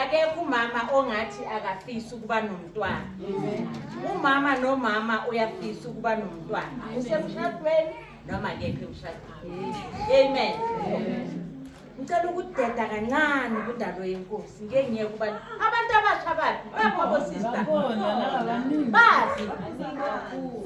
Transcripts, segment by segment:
akekho umama ongathi akafisi ukuba nomntwana umama nomama uyafisa ukuba nomntwana usemshadweni noma kephi emshadweni amen ngicela ukudeda kancane kudalo yenkosi ngeke ngiye kuba abantu abasha baphi babobosista bazi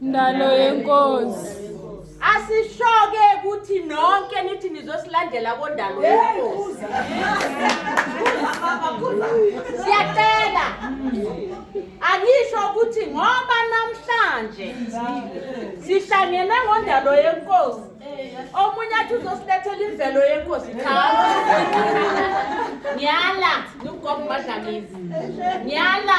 Ndalo yenkosi. Asishoke ukuthi nonke nithi nizosilandela kondalo yenkosi. Siyacela. Angisho ukuthi ngoba namhlanje sihlangene ngondalo yenkosi. Omunye athi uzosilethela imvelo yenkosi cha. Ngiyala, ngigomba dlamizi. Ngiyala.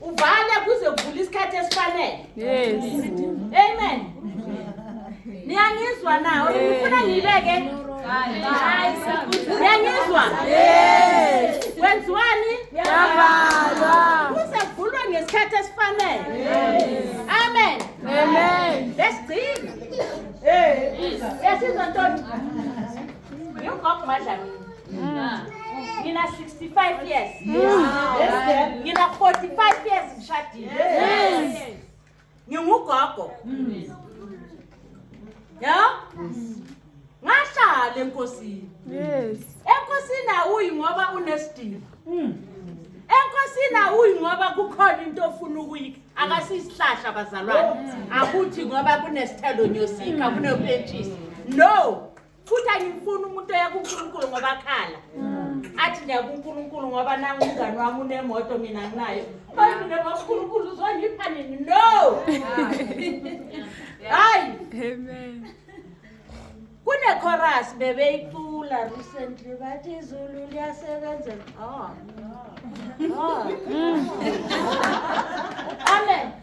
uvale kuze kuvula isikhathi esifanele yes amen niyangizwa na ngifuna ngiyibeke niyangizwa kwenziwani yavalwa kuze kuvulwe ngesikhathi esifanele amen amen lesigcina yasizwa ntoni Yingokho madlamini. Ngina 65 years. Ngina 45 years ngishadile. Ngingugogo. Ya? Ngashada enkosini. Yes. Enkosini awuyi ngoba unesidingo. Enkosini awuyi ngoba kukhona into ofuna ukuyika. Akasisihlahla bazalwane. Akuthi ngoba kunesithelo nyosika kunopentshisi. No. futhi angimfuni umuntu oya kunkulunkulu ngoba akhala athi ndiya kunkulunkulu ngoba nangu umngani wami unemoto mina nginayo baye mina bankulunkulu uzongipha nini no hayi kunekhorasi bebeyicula recently bathi izulu liyasebenza oh. oh. oh. amen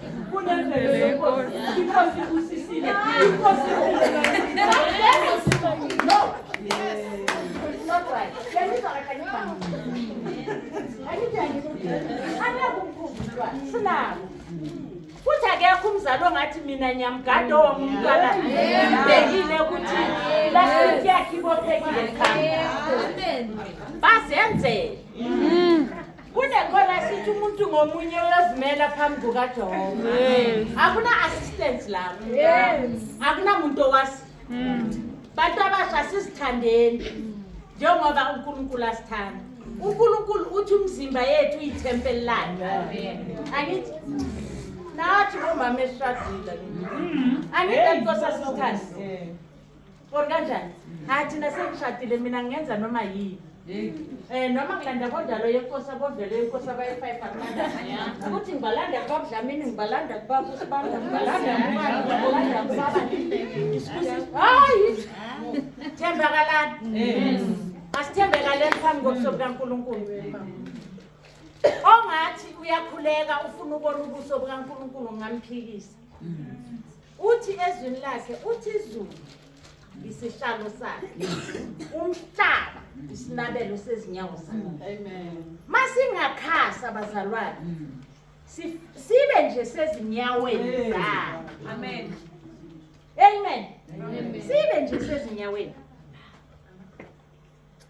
sinabo futhi akekho umzali ongathi mina nyamgade owamumntwana ngibhekile ukuthi lastiki yakhe ibophekile khaya bazenzele kunekhona sithi umuntu ngomunye uyozimela phambi kukajehova akuna-assistance lapho akunamuntu owasi hmm. bantu abasha sizithandeni njengoba unkulunkulu asithanda unkulunkulu uthi umzimba yethu uyithempeli lakhe angithi nathi bomama esishadile hmm. angithi ankosa sisithandi or kanjani hayi thina sengishadile mina ngingenza noma yini Eh noma ngilanda kodalo yenkosi abodlele yenkosi abayi-5 akulanda ukuthi ngibalanda kubaba Dlamini ngibalanda kubaba uSibanda ngibalanda kubani ngibalanda kubaba hayi thembakalani asithembekaleni phambi kobuso bukaNkulunkulu ongathi uyakhuleka ufuna ubona ubuso bukaNkulunkulu ngamphikisa Uthi ezwini lakhe uthi izulu isihlalo sakhe umhlaba isinabelo sezinyawo zakhe amen masingakhasa bazalwane sibe nje sezinyaweni zakhe amen amen sibe nje sezinyaweni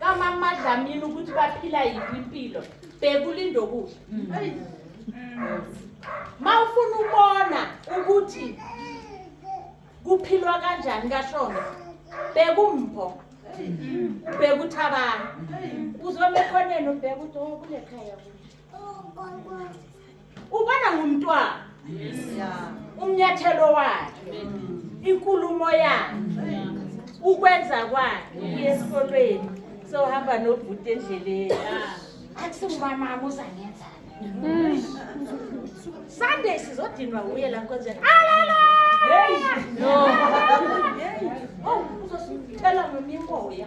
kamama Dlamini ukuthi baphila yiphi impilo bheka ulindokudla ma ufuna ubona ukuthi kuphilwa kanjani kashona bheka umpho bheka uthabana uzobe khoneni ubheka ukuthi oh, kulekhaya kuthi ubona ngumntwana umnyathelo wakhe inkulumo yakhe ukwenza kwakhe uye esikolweni sohamba nobhuti endleleni akusingumamama uzangenza mm. sunday sizodinwa uye la nkonzeni alala no oh, uzosithela ngomimoya